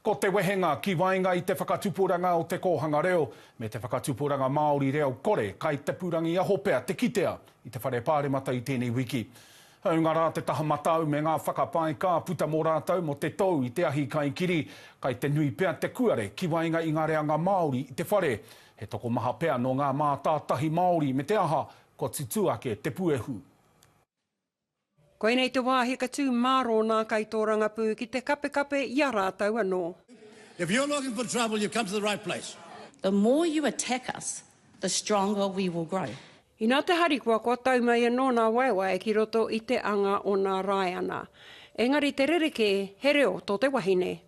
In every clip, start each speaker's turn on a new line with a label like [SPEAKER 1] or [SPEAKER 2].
[SPEAKER 1] Ko te wehenga ki waenga i te whakatupuranga o te kōhanga reo me te whakatupuranga Māori reo kore kai te pūrangiaho pea te kitea i te Whare Pāremata i tēnei wiki. Hāunga rā te taha matau me ngā whakapae ka puta mō rātou mō te tou i te ahi kaikiri, kai te nui pea te kuare ki waenga i ngā reanga Māori i te whare. He tokomaha pea nō ngā mātātahi Māori me te aha kua tutū ake te puehu.
[SPEAKER 2] Koinei te wāhi ka tū mārō nā kaitōrangapū ki te kapekape i a rātou anō. If you're looking
[SPEAKER 3] for trouble, you've come to the right place. The more you
[SPEAKER 4] attack us, the stronger we will grow. Inā te harikoa
[SPEAKER 2] kua tau mai anō nā Waewae ki roto i te anga o nā Rāiana. Engari te rerekē, he reo tō te wahine.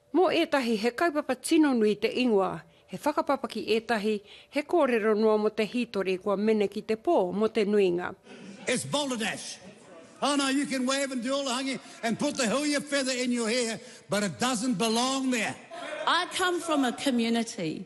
[SPEAKER 4] Mō ētahi,
[SPEAKER 2] he kaupapa tino nui te ingoa, he whakapapaki ētahi, he kōrero noa mō te hītori kua mene ki te pō mō te nuinga. It's balderdash.
[SPEAKER 3] Oh no, you can wave and do all the hangi and put the huia feather in your hair, but it doesn't belong there. I come
[SPEAKER 4] from a community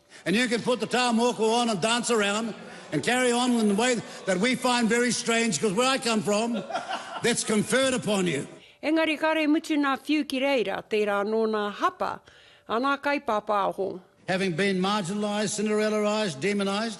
[SPEAKER 2] And you can put the
[SPEAKER 3] taha mōku on and dance around and carry on in the way that we find very strange because where I come from that's conferred upon you. Engari kare mutu
[SPEAKER 2] nā whiu ki reira, tērā anō nā hapa a nā kaipāpāho. Having been
[SPEAKER 3] marginalised, Cinderellaised, demonised,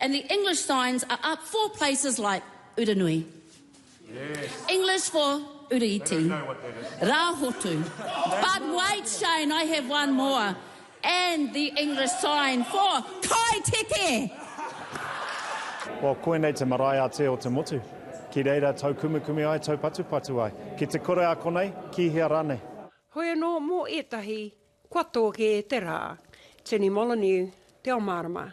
[SPEAKER 4] And the English signs are up for places like Uranui.
[SPEAKER 1] English for
[SPEAKER 4] Uriiti. Rahotu. But wait Shane, I have one more. And the English sign for Kai Teke!
[SPEAKER 5] Well, koinei te marae a Te Otemotu. Ki reira taukumekume ai, taupatupatu ai. Ki te kore a konei, ki hea ranei. Hoi anō mō
[SPEAKER 2] ētahi, kua tō kē te rā. Jenny Molyneux, Te ao mārama.